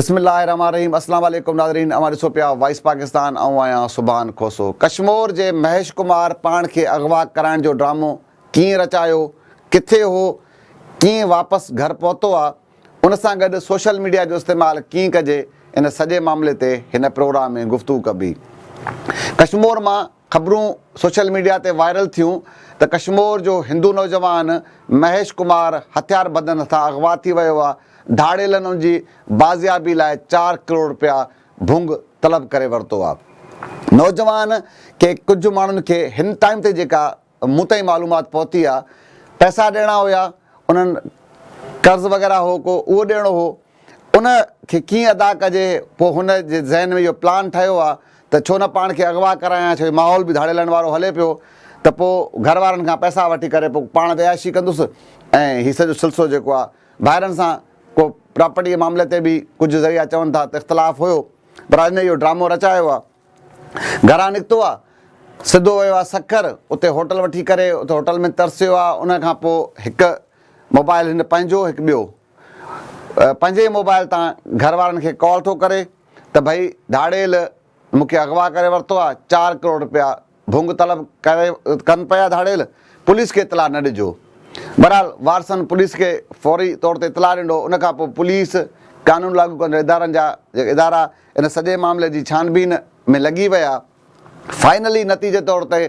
بسم الله الرحمن الرحيم اسلام عليڪم ناظرين اوهان ڏسو پيا وائس پاڪستان آئون آهيان سبحان کوسو ڪشمور جي مهيش ڪمار پاڻ کي اغوا ڪرائڻ جو ڊرامو ڪيئن رچايو ڪٿي هو ڪيئن واپس گهر پهتو آ ان سان گڏ سوشل ميڊيا جو استعمال ڪيئن ڪجي ان سڄي معاملي تي هن پروگرام ۾ گفتگو ڪبي. ڪشمور مان خبرون سوشل ميڊيا تي وائرل ٿيون ته ڪشمور جو هندو نوجوان مهيش ڪمار هٿيار بندن هٿان اغوا ٿي ويو آهي، ڌاڙيلن ان جي بازيابي لاء چار ڪروڙ رپيا ڀونگ طلب ڪري ورتو آهي. نوجوان کي ڪجهه ماڻهن کي هن ٽائيم تي جيڪا مون تائين معلومات پهتي آ پئسا ڏيڻا هيا انهن قرض وغيره هو ڪو اهو ڏيڻو هو ان کي ڪيئن ادا ڪجي پوء هن جي ذهن ۾ اهو پلان ٺهيو آ ته ڇو نه پاڻ کي اغوا ڪرايان ڇو جو ماحول به ڌاڙيلن وارو هلي پيو ته پوء گهر وارن کان پئسا وٺي ڪري پوء پاڻ به عياشي ڪندس ۽ هي سڄو سلسلو جيڪو آ ڀائرن سان ڪو پراپرٽي جي معاملي تي به ڪجهه ذريعا چون ٿا ته اختلاف هيو پر هن اهو ڊرامو رچايو آ. گهران نڪتو آ، سڌو ويو آ سکر، اتي هوٽل وٺي ڪري اتي هوٽل ۾ ترسيو آ، ان کان پوء هڪ موبائل هن پنهنجو هڪ ٻيو پنهنجي ئي موبائل تان گهر وارن کي ڪال ٿو ڪري ته ڀئي ڌاڙيل مون کي اغوا ڪري ورتو آ، چار ڪروڙ رپيا ڀونگ طلب ڪري ڪن پيا ڌاڙيل پوليس کي اطلاع نه ڏجو بھرحال وارثن پوليس کي فوري طور تي اطلاع ڏنو ان کان پوء پوليس قانون لاڳو ڪندڙ ادارن جا ادارا ان سڄي معاملي جي ڇانبين ۾ لڳي ويا فائنلي نتيجي طور تي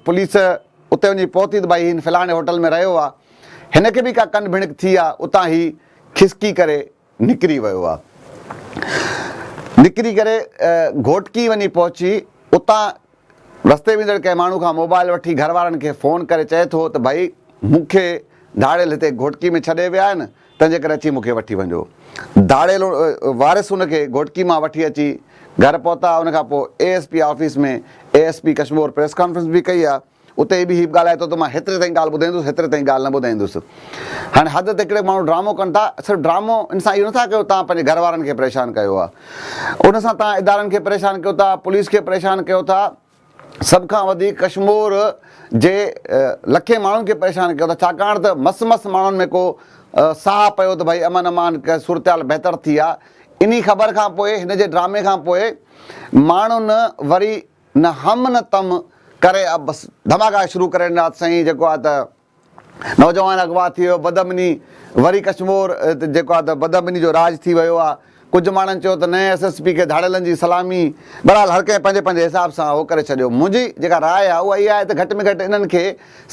پوليس اتي وڃي پهتي ته ڀائي هن فلاڻي هوٽل ۾ رهيو آ هن کي به ڪا ڪن ڀڻڪ ٿي آ اتان هي کسڪي ڪري نڪري ويو آ نڪري ڪري گهوٽڪي وڃي پهچي اتان رستي ويندڙ ڪنهن ماڻهو کان موبائل وٺي گهر وارن کي فون ڪري چئي ٿو ته ڀئي مون کي ڌاڙيل هتي گهوٽڪي ۾ ڇڏي ويا آهن تنهنجي ڪري اچي مون کي وٺي وڃجو ڌاڙيل وارث ان کي گهوٽڪي مان وٺي اچي گهر پهتا ان کان پوء A S P office ۾ A S P Kashmore press conference به ڪئي آ اتي به هي به ڳالهائي ٿو ته مان هيتري تائين ڳالهه ٻڌائيندس هيتري تائين ڳالهه نه ٻڌائيندس. هاڻي حد تي ڪهڙي ماڻهو ڊرامو ڪن ٿا صرف ڊرامو ان سان اهو نٿا ڪيو تان پنهنجي گهر وارن کي پريشان ڪيو آ ان سان تان ادارن کي پريشان ڪيو ٿا پوليس کي پريشان ڪيو ٿا سڀ کان وڌيڪ ڪشمور جي لکين ماڻهن کي پريشان ڪيو ٿا ڇاڪاڻ ته مس مس ماڻهن ۾ ڪو ساهه پيو ته ڀائي امن امان صورتحال بهتر ٿي آ انهي خبر کان پوء هن جي ڊرامي کان پوء ماڻهن وري نه هم نه تم ڪري اب بس ڌماڪا شروع ڪري ڏنا ته سائين جيڪو آهي ته نوجوان اغوا ٿي ويو بدامني وري ڪشمور تي جيڪو آهي ته بدامني جو راڄ ٿي ويو آهي ڪجهه ماڻهن چيو ته نئين ايس ايس پي کي ڌاڙيلن جي سلامي بهرحال هر ڪنهن پنهنجي پنهنجي حساب سان اهو ڪري ڇڏيو منهنجي جيڪا راء آهي اها اها آهي ته گهٽ ۾ گهٽ انهن کي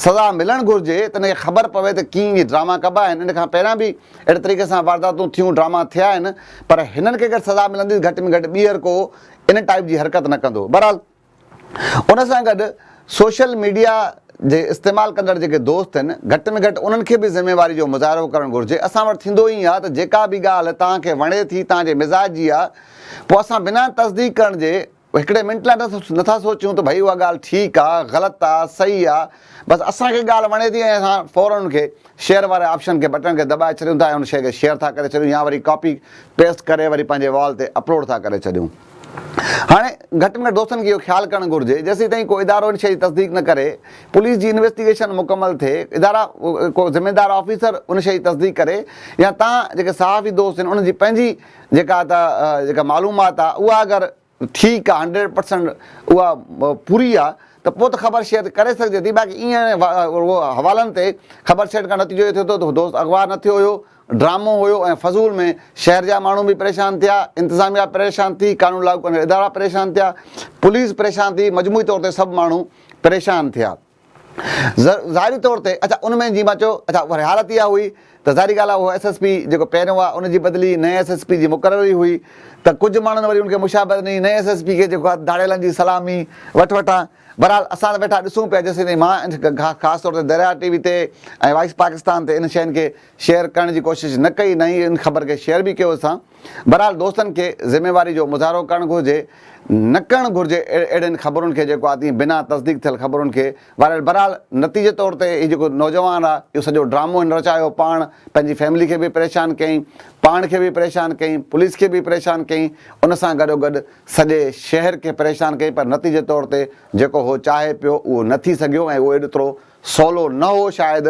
سزا ملڻ گهرجي ته ان کي خبر پوي ته ڪيئن اهي ڊراما ڪبا آهن ان کان پهريان به اهڙي طريقي سان وارداتون ٿيون ڊراما ٿيا آهن پر هنن کي اگر سزا ملندي ته گهٽ ۾ گهٽ ٻيهر ڪو ان ٽائيپ جي حرڪت نه ڪندو. بهرحال ان سان گڏ سوشل ميڊيا جي استعمال ڪندڙ جيڪي دوست آهن گهٽ ۾ گهٽ انهن کي به ذميواري جو مظاهرو ڪرڻ گهرجي. اسان وٽ ٿيندو ائين آهي ته جيڪا به ڳالهه توهان کي وڻي ٿي توهان جي مزاج جي آهي پوء اسان بنا تصديق ڪرڻ جي هڪڙي منٽ لاء نٿا سوچيون ته ڀئي اها ڳالهه ٺيڪ آهي، غلط آهي، صحيح آهي. بس اسان کي ڳالهه وڻي ٿي ۽ اسان فورن ان کي شيئر واري آپشن کي بٽڻ کي دٻائي ڇڏيون ٿا ۽ ان شيء کي شيئر ٿا ڪري ڇڏيون يا وري ڪاپي پيسٽ ڪري وري پنهنجي وال تي اپلوڊ ٿا ڪري ڇڏيون. هاڻي گهٽ ۾ گهٽ دوستن کي اهو خيال ڪرڻ گهرجي جيسين تائين ڪو ادارو ان شيء جي تصديق نه ڪري پوليس جي انويسٽيگيشن مڪمل ٿئي ادارا ڪو ذميدار آفيسر ان شيء جي تصديق ڪري يا تان جيڪي صحافي دوست آهن انهن جي پنهنجي جيڪا ته جيڪا معلومات آهي اها اگر ٺيڪ آ هنڊريڊ پرسنٽ اها پوري آ ته پوء ته خبر شيئر ڪري سگهجي ٿي باقي ايئن حوالن تي خبر شيئر ڪرڻ نتيجو اهو ٿيو ٿو ته دوست اغوا نه ٿيو هيو ڊرامو هيو ۽ فضول ۾ شهر جا ماڻهو به پريشان ٿيا انتظاميا پريشان ٿي قانون لاڳو ڪندڙ ادارا پريشان ٿيا پوليس پريشان ٿي مجموعي طور تي سڀ ماڻهو پريشان ٿيا. ظاهري طور تي اڇا ان ۾ جيئن مان چيو اڇا وري حالت اها هئي ته ظاهري ڳالهه آهي اهو ايس ايس پي جيڪو پهريون هئا ان جي بدلي نئين ايس ايس پي جي مقرري هئي ته ڪجهه ماڻهن وري ان کي مشابهت ڏني نئين ايس ايس پي کي جيڪو آهي ڌاڙيلن جي سلامي وٺ وٺان بهرحال اسان ته ويٺا ڏسون پيا جيسيتائين مان خاص طور تي درياهه ٽي وي تي ۽ وائس پاڪستان تي ان شين کي شيئر ڪرڻ جي ڪوشش نه ڪئي نه ئي ان خبر کي شيئر به ڪيو اسان بھرحال دوستن کي ذميواري جو مظاھرو ڪرڻ گھرجي نه ڪرڻ گھرجي اھڙين خبرن کي جيڪو آتي بنا تصديق ٿيل خبرن کي وائرل بھرحال نتيجي طور تي ھي جيڪو نوجوان آ اھو سڄو ڊرامو ھن رچايو پاڻ پنھنجي فيملي کي به پريشان ڪيائين پاڻ کي به پريشان ڪيائين پوليس کي به پريشان ڪيائين ان سان گڏو گڏ سڄي شھر کي پريشان ڪيائين پر نتيجي طور تي جيڪو ھو چاھي پيو اھو نه ٿي سگھيو ۽ اھو ايڏترو سولو نه هو شايد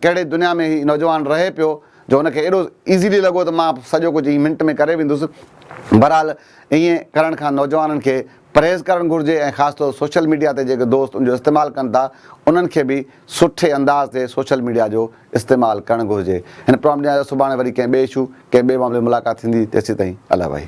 ڪهڙي دنيا ۾ هي نوجوان رهي پيو جو هن کي ايڏو ايزلي لڳو ته مان سڄو ڪجهه هي منٽ ۾ ڪري ويندس بهرحال ائين ڪرڻ کان نوجوانن کي پرهيز ڪرڻ گهرجي ۽ خاص طور سوشل ميڊيا تي جيڪي دوست ان جو استعمال ڪن ٿا انهن کي به سٺي انداز تي سوشل ميڊيا جو استعمال ڪرڻ گهرجي. هن پرامپٽ ڏينهن جو سڀاڻي وري ڪنهن ٻئي اشو، ڪنهن ٻئي معاملي تي ملاقات ٿيندي تيسيتائين الله وحي.